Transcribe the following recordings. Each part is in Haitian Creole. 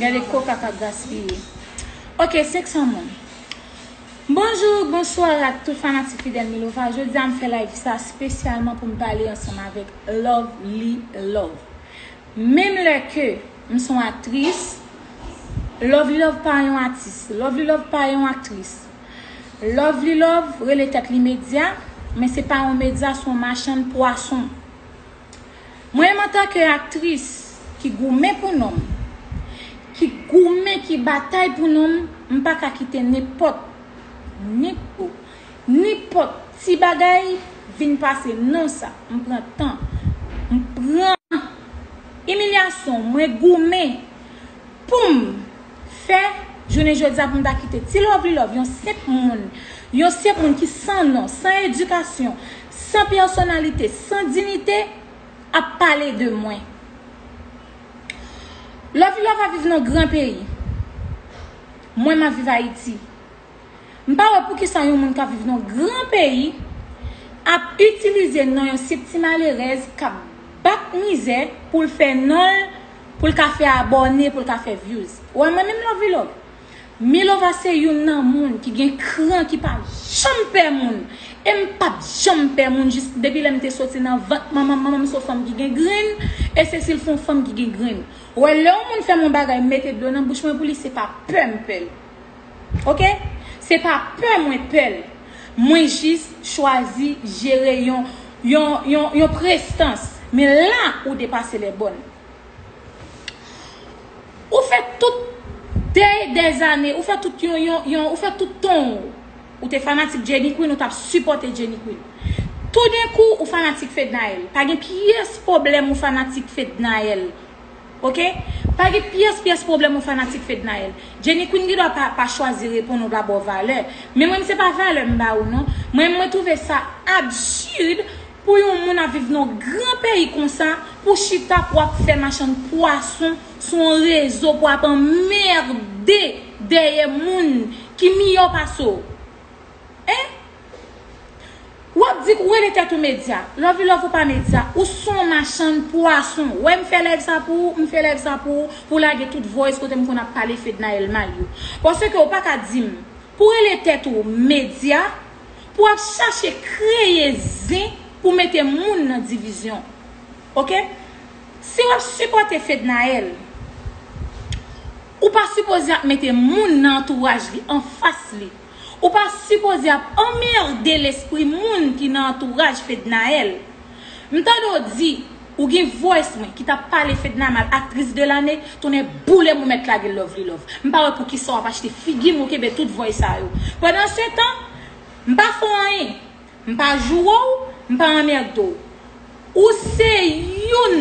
Gade koka kap gaspiye. Ok 500 moun. Bonjou, bonswa ak tout fanatik fidèl Milova. Jodi a m fè live sa spesyalman pou m pale ansanm avèk Lovely Love. Menm lè ke m son aktris, Lovely Love pa yon atis. Lovely Love pa yon aktris. Lovely Love rele tèt li medya, men se pa yon medya, se yon machann pwason. Mwen menm antan ke aktris ki goumen pou non m, ki goumen, ki batay pou non m, m pa ka kite nenpòt, nenpò, nenpòt ti bagay vin pase non sa. M pran tan, m pran imilyasyon, mwen goumen pou m fè jounen jodi a pou m ta kite ti lovely love yon senp moun yon senp moun ki san non san edikasyon san pèsonalite san dinite ap pale de mwen lovely love ap viv nan gran peyi mwen map viv ayiti M pa wè poukisa yon moun k ap viv nan yon gran peyi ap itilize non yon sip ti malerèz k ap bat mizè pou l fè non l, pou l ka fè abòne, pou l ka fè vyouz. Ou wè mwen menm Lovilo? Milova se youn nan moun ki gen kran ki pa janm pè moun e m pa p janm pè moun jis depi lè m te soti nan vant manman m. Manman m se yon fanm ki gen grenn e Cecile fon fanm ki gen grenn. Ou wè lè yon moun fè m yon bagay m mete dlo nan bouch mwen pou li se pa pè m pè l. Ok se pa pè mwen pèl mwen jis chwazi jere yon yon yon yon prestans men la ou depase lè bòn ou fè tout dèy dè zane ou fè tout yon yon yon ou fè tout tonw ou te fanatik Jenny Queen ou tap sipòte Jenny Queen toudenkou ou fanatik Fednaelle pa gen pyès pwoblèm ou fanatik Fednaelle. Ok pa gen pyès pyès pwoblèm yon fanatik Fednaelle. Jenny Queen gen dwa pa chwazi reponn ou pa ba w valè. Men mwen se pa valè m ba ou non. Mwen mwen twouve sa absurd pou yon moun ap viv nan yon gran peyi konsa pou w chita pou w ap fè machann pwason sou yon rezo pou w ap anmerde dèyè moun ki miyò pase w. Hein? Wap di ou rele tèt ou medya. Love u love ou pa medya. Ou son machann pwason. Wè m fè live sa pou ou, m fè live sa pou ou, pou w lage tout voice kote m konn ap pale Fednaelle mal yo. Paske ou pa ka di m, pou w rele tèt ou medya, pou w ap chache kreye zen pou w mete moun nan divizyon. Ok? Si w ap sipòte Fednaelle, ou pa sipoze ap mete moun nan antouraj li, anfas li. Ou pa sipoze ap anmerde lespri moun ki nan antouraj Fednaelle. M tande w di ou gin voice mwen ki tap pale Fedna mal actrice de l'année, tonnè boulem ou mèt lage lovely love. M pa wè poukisa wap achte figi m ou kenbe tout voice sa yo. Pandan se tan, m pa fè w anyen. M pa joure w, m pa anmerde w. Ou se youn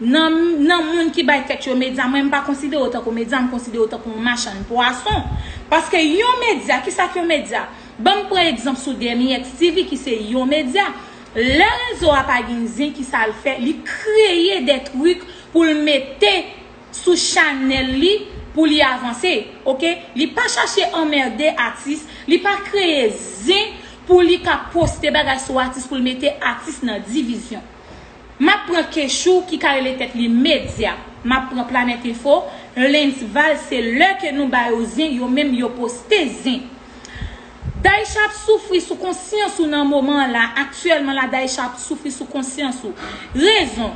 nan nan moun ki bay tèt yo medya. Mwen m pa konsidere w tankou medya, m konsidere w tankou yon machann pwason. Paske yon medya, kisa k yon medya? Ban m pran egzanp sou Dernyex TV ki se yon medya. Lè rezo a pa gen zen kisa l fè? Li kreye de trik pou l mete. sou chanel li pou li avanse ok li pa chache anmerde atis li pa kreye zen pou li ka poste bagay sou atis pou l mete atis nan divizyon map pran kechou ki ka rele tèt li medya map pran planet info lensval se lè ke nou ba yo zen yo menm yo poste zen Daisha ap soufri sou konsyans ou nan moman an la aktyèlman la Daisha ap soufri sou konsyans ou rezon.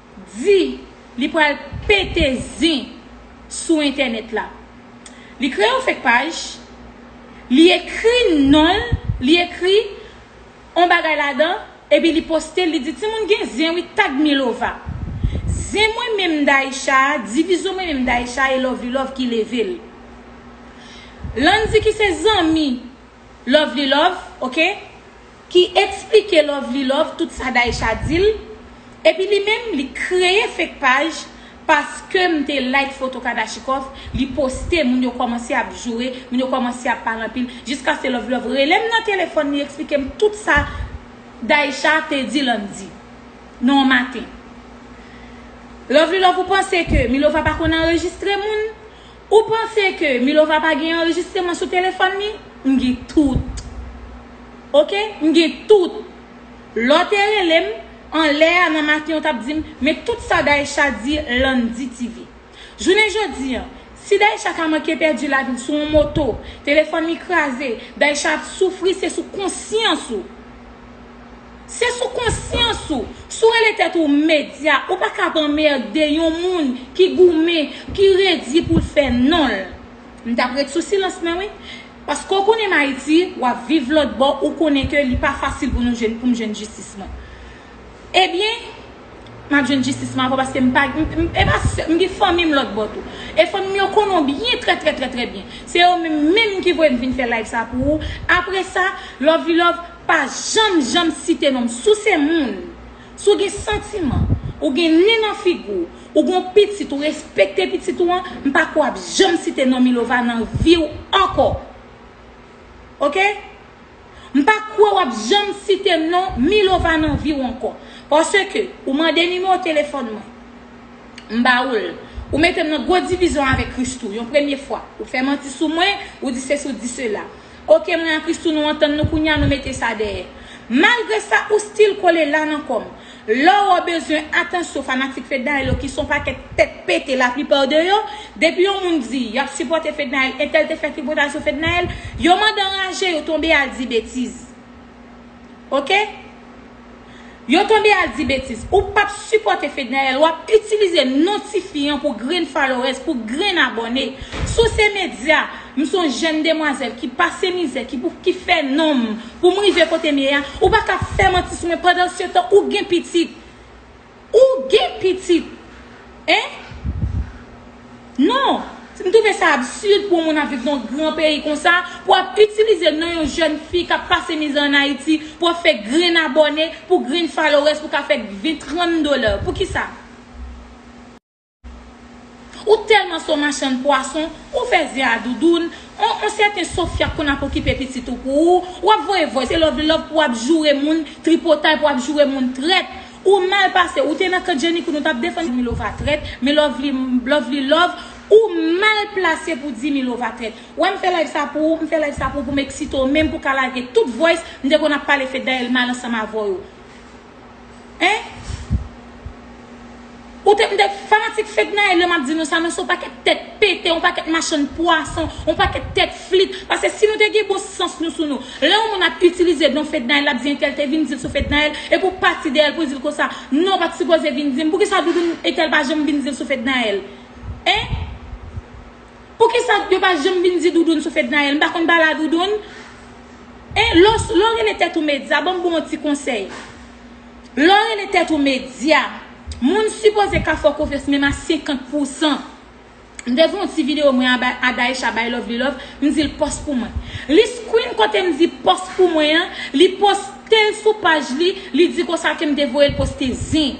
di li pral pete zen sou entènèt la. Li kreye yon fek paj, li ekri non l, li ekri yon bagay ladan, epi li poste l, li di timoun gen zen wi tag milova. Zen mwen menm Daïsha a, divizo mwen menm Daïsha a e Lovely Love ki leve l. Landy ki se zanmi Lovely Love, ok, Ki eksplike lovely love tout sa Daïsha dil epi li menm li kreye fake paj paskem te like foto kadachikov li poste moun yo komanse ap joure moun yo komanse ap pale anpil jiskaske lovely love relem nan telefòn li eksplikem tout sa Daïsha te di landy nan yon maten lovely love ou panse ke milova pa konn anrejistre moun Ou panse ke Milova pa gen anrejistreman sou telefòn li? M gen tout. Ok, m gen tout. Lè w te rele m, anlè a nan maten ou t ap di m, men tout sa Daïsha di Landy TV. Jounen jodi an, si Daïsha ta manke pèdi lavi l sou yon moto, telefòn li kraze, Daïsha ap soufri se sou konsyans ou. Se sou konsyans ou, si w rele tèt ou medya, ou pa ka ap anmerde yon moun ki goumen, ki redi pou l fè non l. M t ap ret sou silans mwen wi. Paske w konnen m Ayiti, w ap viv lòtbò, ou konnen ke li pa fasil pou nou jwenn, pou m jwenn jistis mwen. Ebyen, m ap jwenn jistis mwen ankò paske m pa, e pa sèl, m gen fanmi m lòtbò tou. E fanmi m yo konnen w byen, trè trè trè trè byen. Se yo menm menm ki voye m vin fè live sa pou ou. Apresa, love li love. Pa janm janm site non m. Si w se moun, si w gen santiman, ou gen nen nan figi w, ou gen yon pitit, ou respekte pitit ou an, m pa kwè w ap janm site non Milova nan vi w ankò. Ok? M pa kwè w ap janm site non Milova nan vi w ankò. Paske ou mande nimewo telefòn mwen. M ba ou l. Ou mete m nan gwo divizyon avèk Christoo yon premye fwa. Ou fè manti sou mwen, ou di sesi ou di sela. Ok mwen a Christoo nou antann nou kounya nou mete sa dèyè malgre sa ou still kole la nan kòm Laurent bezwen atansyon fanatik Fednaelle yo ki son pakèt tèt pete la plupart de yo depi yon moun di yap sipòte Fednaelle entèl te fè tripotasyon Fednaelle yo mande anraje yo tonbe al di betiz. Ok Yo tonbe al di betiz Ou pap sipòte Fednaelle wap itilize non tifi an pou grenn followers pou grenn abòne Sou se medya M son jèn demwazèl ki pase mizè ki pou ki fè nonm poum rive kotem ye a Ou paka fè manti sou mwen pandansetan ou gen pitit Ou gen pitit hein? Non, m twouve sa absurd pou yon moun ap viv nan yon gran peyi konsa, pou ap itilize non yon jèn fi kap pase mizè an Ayiti, pou ap fè grenn abòne, pou grenn followers pou ka fè 20, 30 dollars. Poukisa? Ou tèlman son machann pwason, ou fè zè a doudoun, on on sèten Sofia k konn ap okipe pitit ou pou ou, w ap voye voice e love love pou w ap joure moun tripotay pou w ap joure moun trèt. Ou mal pase, ou te nan kan Jenny Koun ou t ap defann Milova trèt, men lovely lovely love ou mal plase pou di Milova trèt. Wè m fè live sa pou ou, m fè live sa pou ou pou m eksite w menm pou w ka lage tout voice m te konn ap pale Fednaelle mal ansanm avè w yo. Ou te mde fanatik fednaelle lè map di nou sa nou son pakèt tèt pete yon pakèt machann pwason yon pakèt tèt flit pase si nou te gen bon sans nou sou nou lè yon moun ap itilize non fednaelle lap di entèl te vin dil sou fednaelle epi ou pati dèyèl pou dil konsa non ou pat sipoze vin dim poukisa doudoune entèl pa janm vin dil sou fednaelle hein. Poukisa yo pa janm vin di Doudoune sou Fednaelle? M pa konn pale a Doudoune. Hein, lè w, lè w rele tèt ou medya, ban m ba w yon ti konsèy. Lè w rele tèt ou medya, moun sipoze ka fè w konfyans menm a 50 pousan. M te fè yon ti videyo mwen aba a Daïsha bay Lovely Love, m di l pòs pou mwen. Li screen kote m di pòs pou mwen an, li poste l sou paj li, li di konsa ke m te voye l poste zen.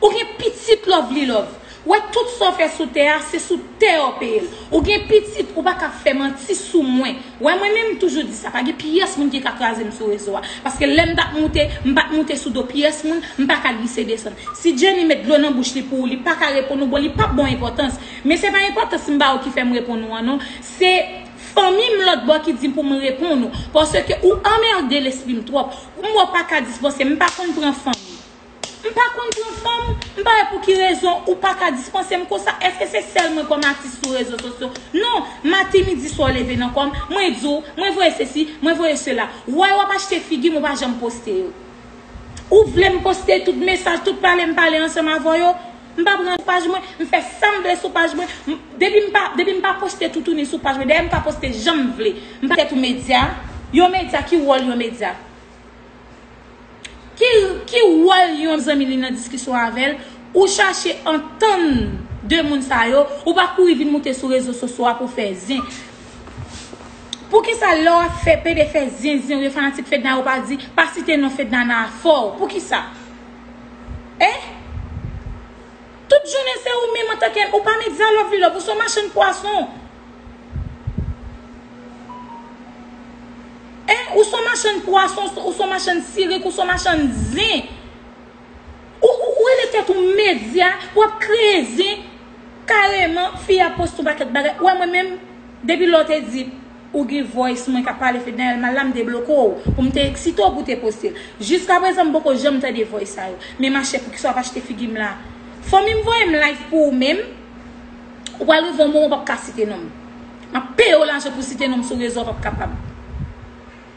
Ou gen pitit lovely love. Wè tout sa w fè sou tè a se sou tè a w peye l. Ou gen pitit ou pa ka fè manti sou mwen. Wè mwen menm m toujou di sa pa gen pyès moun ki ka kraze m sou rezo a. Paske lè m tap moute m pat moute sou do pyès moun m pa ka glise desann. Si Jenny met dlo nan bouch li pou ou li pa ka reponn ou bon li pap ba w enpòtans. Men se pa enpòtans m ba ou ki fè m reponn ou an non. Se Fanmi m lòt bò ki di pou m reponn ou. Paske ou anmerde lespri m twòp. M wè w pa ka dispanse m pa konn pran fanmi. M pa konn pran fanm, m pa wè pou ki rezon ou pa ka dispanse m konsa, èske se sèl mwen kòm atis sou rezo sosyo? Non, maten, midi, swa w leve nan kò m, mwen di w, mwen voye sesi, mwen voye sela. Woy w ap achte figi m ou pa janm poste yo. Ou vle m poste tout mesaj, tout pale m pale ansanm avè w yo? M pa pran paj mwen, m fè sa m vle sou paj mwen, depi m pa, depi m pa poste toutouni sou paj mwen, dayè m ka poste jan m vle. M pa tèt ou medya, yon medya ki wòl yon medya? Ki wòl yon zanmi li nan diskisyon avè l? Ou chache antann 2 moun sa yo, ou pa kouri vin moute sou rezo sosyo a pou fè zen. Poukisa lè w ap fè pede fè zen zen ou yo fanatik Fedna yo pa di pa site non Fedna nan afè w? Poukisa? Eh! Tout jounen se ou menm antanke ou pa medya love li love ou son machann pwason. Hein ou son machann pwason ou son machann sirik ou son machann zin ou ou rele tèt ou medya wap kreye zin kareman fi a poste yon pakèt bagay ou wè mwen menm depi lè ou te di ou gen voice mwen ka pale Fednaelle mal la m te bloke w pou m te eksite w pou w te poste l jiska prezan m poko janm tande voice sa yo men machè poukisa wap achte figi m la fanmi m voye m live pou ou menm. Ou pral rive yon moman ou pap ka site nom. Map peye w lajan pou site nom sou rezo a pap kapab.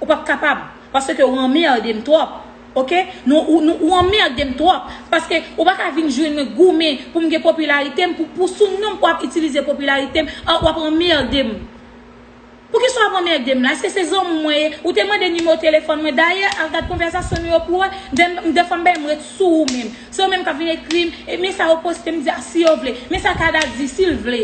Ou pap kapab paske ou anmerde m twòp ok. Ou anmerde m twòp paske ou pa ka vin jwenn mwen goumen pou m gen popilarite m pou sou nom pou ap itilize popilarite m wap anmerde m. Poukisa w ap anmède m la? Èske se zanmi w mwen ye? Ou te mande nimewo telefòn mwen. Dayè, al gad konvèsasyon nou yo pou w wè. M dèfwa m bay m ret sou ou menm. Se yo menm k ap vin ekri m, e men sa yo poste m di a si yo vle. Men sa Kada di, si l vle.